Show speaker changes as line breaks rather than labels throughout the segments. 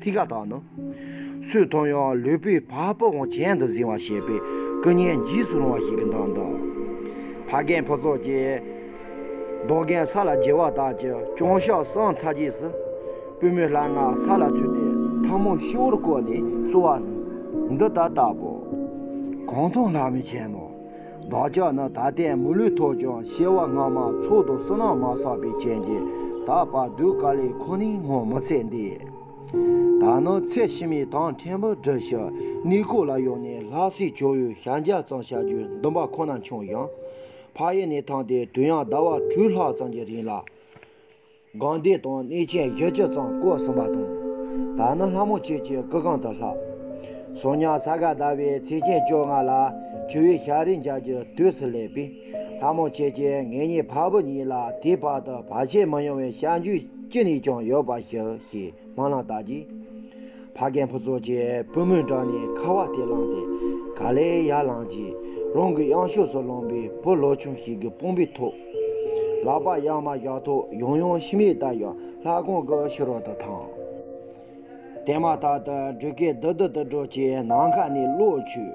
ཐིག་ཀ་དག་ནི། སུས་མཐོང་ཡང་ལུས་པོའི་བ་སྤུ་འོངས་གྱེན་དུ་གཟིང་བ་ཞེས་པའི་སྐུ་བརྙན་འཇིགས་སུ་རུང་བ་ཞིག་གི་མདངས་དང། ཕ་རྒན་ཕུ་ཚོགས་ཀྱིས་རྡོ་རྒན་ས་ལ་འགྱེལ་བ་དག་ཀྱི་ཅོང་ཞག་སངས་ཚར་རྗེས་སུ། པུས་མོའི་སླ་ང་ས་ལ་བཙུད་དེ་ཐང་མོ་ཤི་བོར་བསྐོར་ནས་བསུ་བ། འདི་ལྟར་བཏབ་བོ། གང་མཐོང་ལྷག་མི་བྱེད་ནོ། བདག་ཅག་ནི་ད་ལྟའི་མི་ལུས་ཐོགས་ཀྱང་ཤེས་བ་སྔ་མ་མཆོག་ཏུ་བསོད་ནམས་མ་བསགས་པའི་རྐྱེན་གྱིས་ད་བར་གདུལ་དཀའ་ལས་ཁོ་ནའི་སྔོན་མི་ཚེ་འདི། ད་ནི་ཚད་ཕྱི་མའི་དང་ཕྲན་བུ་བསྒྲུབས་ཤིག་གནས་སྐོར་ལ་ཡོང་ནས་ལྷ་སའི་ཇོ་བོའི་ཞལ་མཇལ་ཙམ་བྱ་རྒྱུའི་འདུན་པ་ཁོ་ན་བྱུང་ཡང། ཕ་ཡུལ་ནས་ཐོན་ཏེ་དུས་ཡང་ཟླ་བ་དྲུག་ལྷག་ཙམ་གྱི་རིང་ལ། སྒང་སྡེ་དང་གནས་ཆེན་བཞི་ཅུ་ཙམ་བསྐོར་ཟིན་པ་དང། ད་ནི་ལྷ་མོ་ཁྱེད་ཀྱི་སྐུ་གང་དུ་ལྷག། གསུང་ཉང་ས་ག་ཟླ་བའི་ཚེས་ཆེན་བཅོ་ལྔ་ལ་ཆུ་བོའི་ཤར་རིའི་འཇག་གི་དུས་སུ་སླེབས་པས། ལྷ་མོ་ཁྱེད་ཀྱིས་ངེད་གཉིས་ཕ་བུ་གཉིས་ལ་དེའི་བར་དུ་བར་ཆད་མི་ཡོང་བའི་བྱ་འཇུག་ཅི་ནས་ཀྱང་ཡོད་པ་ཞིག་ཞེས་མ་ལངས་བདག་གིས། ཕ་རྒན་ཕུན་ཚོགས་ཀྱིས་པུས་མོའི་འགྲམ་ནས་ཁ་བ་དེ་བླངས་ཏེ་ག་ལེ་ཡ་བླངས་རྗེས་རང་གི་གཡང་ཕྱོགས་སུ་བླངས་པས་བུ་ལོ་ཆུང་ཞིག་གི་དཔུང་པའི་ཐོག་ལག་པ་གཡང་མ་བཞག་ཐོག་ཡང་ཡང་ཕྱི་མིག་བལྟ་ཡང་ལྷ་ཁང་གི་ཕྱི་རོལ་དུ་ཐང་དེ་མ་ཐག་ཏུ་སྒྲོལ་དཀར་རྡུལ་རྡུལ་དུ་འགྲོ་ཅེས་ནམ་མཁའ་ནས་གློག་འཁྱུད།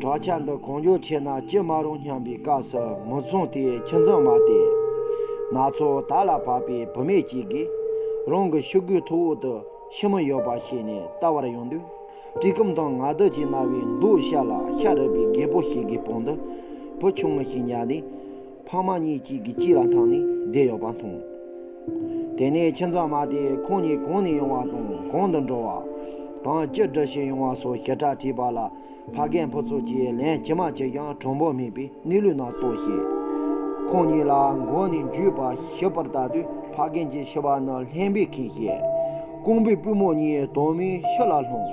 དྲག་ཆ་འདི་གང་མགྱོགས་ཆད་ན་ཅི་མ་རུང་སྙམ་པའི་སྐབས་སུ་མི་མཚུངས་དེ་ཁྱི་འཛུམ་མ་སྟེ། ན་ཚོད་ད་ལ་བབས་པའི་བུད་མེད་ཅིག་གིས། རང་གི་ཤུ་གུའི་ཐུ་འོག་ཏུ་ཤི་མོ་ཡོད་པ་ཤེས་ནས་ལྟ་བར་ཡོང་དུས། གྲི་གུམ་དང་ནག་རྡུལ་གྱིས་མནར་བའི་མདོག་ཤ་ལ་ཤ་རུས་པའི་རྒད་པོ་ཞིག་གི་བང་དུ་བུ་ཆུང་ངུ་ཞིག་ཉལ་ནས། ཕག་མ་གཉིས་གཅིག་གི་གཅིག་ལ་འཐམས་ནས་བསྡད་ཡོད་པ་མཐོང། དེ་ནས་ཁྱིམ་ཚང་མ་དེས་ཁོང་གཉིས་གང་ནས་ཡོང་བ་དང་གང་དུ་འགྲོ་བ། གང་ཅི་འདྲ་བྱས་ཡོང་བ་སོགས་ཞེ་དྲག་དྲིས་པ་ལ། ཕ་རྒན་ཕུ་ཚུགས་ཀྱིས་ལན་ཅི་མ་བྱེད་ཀྱང་གྲོགས་འབོར་མེད་པས་གནས་ལུགས་རྣམས་རྟོགས་ཤིང། ཁོང་གཉིས་ལ་མགོ་ནས་འཇུས་པ་ཞིབ་པར་བལྟ་དུས་ཕ་རྒན་གྱི་ཕྱི་པ་ནི་ལྷན་པས་ཁེངས་ཤིང། རྐང་པའི་པུས་མོ་གཉིས་དོག་མོའི་ཤུ་ལ་ལྷུང།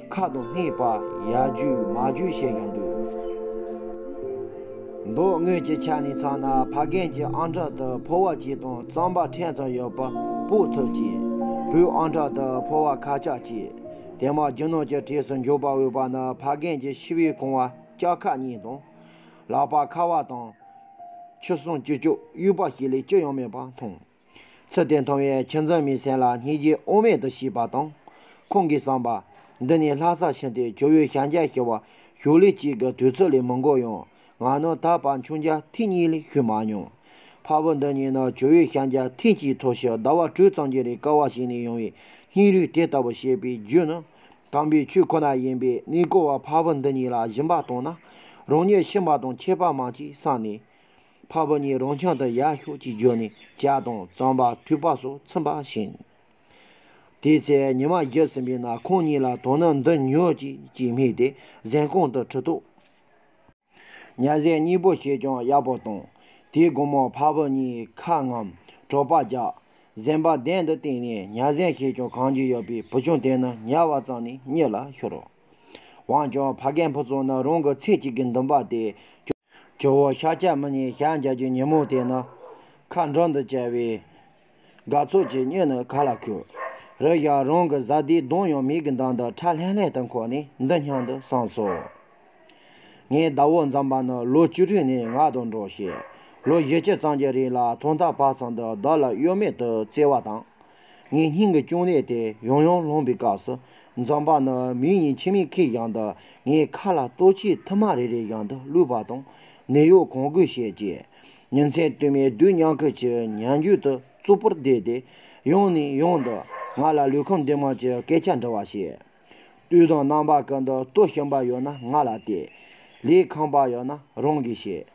མཁའ་དང་སྔས་པ་ཡ་རྒྱུ་མ་རྒྱུ་ཞེས་ཀྱང་འདོད། མདོ་དངོས་ཀྱི་ཆ་ནས་ཚང་ན་ཕ་རྒན་གྱི་ཨང་གྲངས་དུ་ཕོ་བ་གཅིག་དང་རྩམ་པ་ཕྲན་ཙམ་ཡོད་པ་པོ་ཐུབ་ཅིང། བུའི་ཨང་གྲངས་དུ་ཕོ་བ་ཁ་ལྕགས་གཅིག། དེ་མ་རྒྱུ་ནོར་གྱི་གྲས་སུ་འཇོག་པར་འོས་པ་ནི་ཕ་རྒན་གྱི་ཕྱི་བའི་གོང་བ་ལྕགས་ཁ་གཉིས་དང། ལག་པ་ཁ་བ་དང། ཆུ་སྲང་བཅུ་བཅུ་དབྱུག་པ་ཞིག་ལས་ཅི་ཡང་མེད་པར་མཐོང། ཚུལ་དེ་མཐོང་བས་ཁྱི་འཛིན་མའི་སེམས་ལ་སྙིང་རྗེ་དབུ་མེད་དུ་ཞིག་པ་དང། ཁོང་གིས་བསམས་པ། འདི་ནི་ལྷ་སར་ཕྱིན་ཏེ་ཇོ་བོའི་ཞལ་མཇལ་ཞུ་བར་ཞུགས་ལེ་གཅིག་གི་དུས་ཚོད་ལས་མི་འགོར་ཡང། ང་ནི་ད་བར་མཆོང་རྒྱ་ཐེངས་གཉིས་ལས་ཞུས་མ་མྱོང། ཕ་བུ་འདི་གཉིས་ནི་ཇོ་བོའི་ཞལ་མཇལ་ཐེངས་གཅིག་ཐོག་ཕྱི་ཟླ་བ་དྲུག་ཙམ་གྱི་རིང་སྐལ་བ་ཞིག་ནས་ཡོང་བའི་སྙིང་རུས་དེ་ལྟ་བུ་བཤད་པའི་རྒྱུ་ནི། དམ་པའི་ཆོས་ཁོ་ན་ཡིན་པས་གནས་སྐོར་བ་ཕ་བུ་འདི་གཉིས་ལ་སྦྱིན་པ་བཏང་ན། རང་ཉིད་ཕྱིན་པ་དང་ཁྱད་པར་མང་གྱིས་བསམས་ནས། འཕགས་པ་ཉིད་རང་ཆང་དང་ཡར་ཤོག་ཅིག་བརྗོད་ནས་ལྕགས་དང་རྩམ་པ་དུད་པ་སོགས་ཚིམ་པ་བྱིན། དེའི་ཚེ་ཉི་མ་བཞད་ཟིན་པས་ན་ཁོང་ཉིད་ལ་དོ་ན་འདི་ཉོས་ཅིག་ཅེས་སྨྲས་ཏེ་གཟན་གོང་དུ་ཁྲི་ཐོགས། ཉྭ་གཟན་གཉིས་པོ་བྱས་ཀྱང་ཡག་པོ་བཏང། དེའི་དགོང་མོར་འཕགས་པ་ཉིད་ཁ་རྔམ་གྲོགས་པ་ལྗགས་གཟན་པ་གདན་དུ་བཏེགས་ནས་ཉྭ་གཟན་བྱས་ཀྱང་གང་རྒྱུ་ཡོད་པའི་བུ་ཆུང་དེ་ན་ཉལ་བ་ཙམ་ནས་གཉིད་ལ་ཤོར། འོན་ཀྱང་ཕ་རྒན་ཕུན་ཚོགས་ནི་རང་གི་ཚེ་གཅིག་གི་འདུན་པ་དེ་སྐྱོང། ཇོ་བོ་ཤཱ་ཀྱ་མུ་ནིའི་ཞལ་མཇལ་རྒྱུའི་ཉིན་མོ་དེ་ན། མཁའ་འགྲོ་འདི་བཅས་པས། དགའ་ཚོར་གྱི་སྙུན་ནི་ག་ལ་ཁུག། རེ་ཞིག་རང་གི་བཟའ་ཟླའི་གདོང་ཡང་མིག་གི་མདངས་དང་ཁྲ་ལྷན་ལྷན་དུ་འཁོར་ནས་འདི་སྙམ་དུ་སངས་སོ། ངའི་ཟླ་བོ་འཛོམས་པ་ནི་ལོ་བཅུ་དྲུག་ནས་ང་དང་འགྲོགས་ཤིང། ལོ་བཞི་བཅུ་ཙམ་གྱི་རིང་ལ་ཐོག་མཐའ་བར་གསུམ་དུ་བདག་ལ་གཡོ་མེད་དུ་བརྩེ་བ་དང། ངའི་སྙིང་གི་ཅུང་ལེགས་ཏེ་ཡོང་ཡོང་ལོངས་པའི་སྐབས་སུ། འཛམ་བག་ན་མི་ཡིན་ཕྱི་མིག་ཁེགས་ཀྱང་འདི་ངའི་ཁ་ལ་ལྟོ་ཆས་མཐུ་མ་རེ་རེ་ཡང་དུ་བླུད་པ་དང། ནད་གཡོག་གང་དགོས་བཤད་རྗེས། ཉིན་མཚན་བསྟུད་མའི་རྡུལ་དམྱལ་ཁུལ་གྱི་ཉལ་འགྱུར་དུ་རྩུབ་པོར་བསྡད་དེ། ཡང་ནས་ཡང་དུ་ང་ལ་ལུས་ཁམས་བདེ་མོ་གྱི་སྐད་ཆ་འདྲི་བར་བྱེད། ལྟོས་དང་རྣམ་པ་གང་དུ་ལྟོ་ཞིམ་པ་ཡོད་ན་ང་ལ་བལྟས། ལས་ཁང་པ་ཡོད་ན་རང་གིས་བྱེད།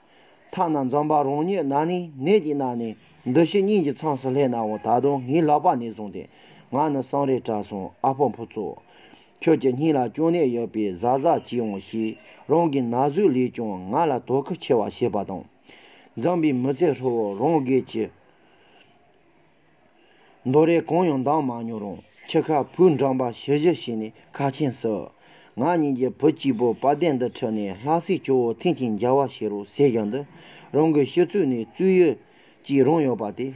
ཐ་ན་འཛམ་བག་རང་ཉིད་ནང་ནས་ནད་ཀྱིས་མནར་ནས་འདུ་བྱེད་གཉིས་ཀྱི་ཚངས་སུ་སླེབས་ནའང་ད་དུང་ངའི་ལག་པ་ནས་བཟུང་སྟེ་ང་ནི་སང་རས་བྲག་སོང་ཨ་ཕོ་ཕོ་ཚོ། ཁྱོད་ཀྱི་སྙིང་ལ་སྐྱོ་གནས་ཡོད་པས་གཟའ་གཟའ་གྱིས་འོང་ཞེས་རང་གི་ན་ཟུག་ལས་ཀྱང་ང་ལ་དོ་ཁུར་ཆེ་བ་བྱེད་པ་དང། འཛམ་བུའི་མི་ཚེ་ཧྲིལ་བོར་རང་སྒེར་གྱི། མདོ་རེ་གང་ཡང་འདང་མ་མྱོང་རུང་ཁྱི་ཁ་བུ་འགྲངས་པ་ཞི་བཞི་བྱས་ནས་ཁ་ཆེན་ཟེར། ང་གཉིས་ཀྱིས་བུ་གཅིག་པོ་དཔའ་གདེང་འདི་ཁྲིད་ནས་ལྷ་སའི་ཇོ་བོ་ཐེངས་གཅིག་མཇལ་བ་བྱེད་རོགས་ཟེར་བཞག་འདི་རང་གི་ཤི་ཚུལ་ནས་བཙུན་ཡོད་ཅིག་རང་ཡོད་པ་དེ་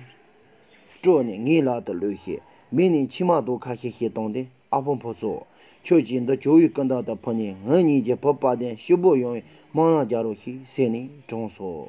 སྤྲོད་ནས་ངའི་ལག་ཏུ་ལོས་ཤིག་མི་ནི་མཆི་མ་དོ་ཁ་ཤིག་ཤིག་བཏང་སྟེ་ཨ་ཕོ་ཕོ་ཚོ། ཁྱོད་ཀྱིས་འདི་ཇོ་བོའི་ཀུན་དགའ་དང་ཕུལ་ནས་ངེད་གཉིས་ཀྱི་བུ་དཔའ་གདེང་ཤུགས་པོ་ཡོང་བའི་སྨོན་ལམ་རྒྱག་རོགས་ཤིག་ཟེར་ནས་དྲངས་སོ།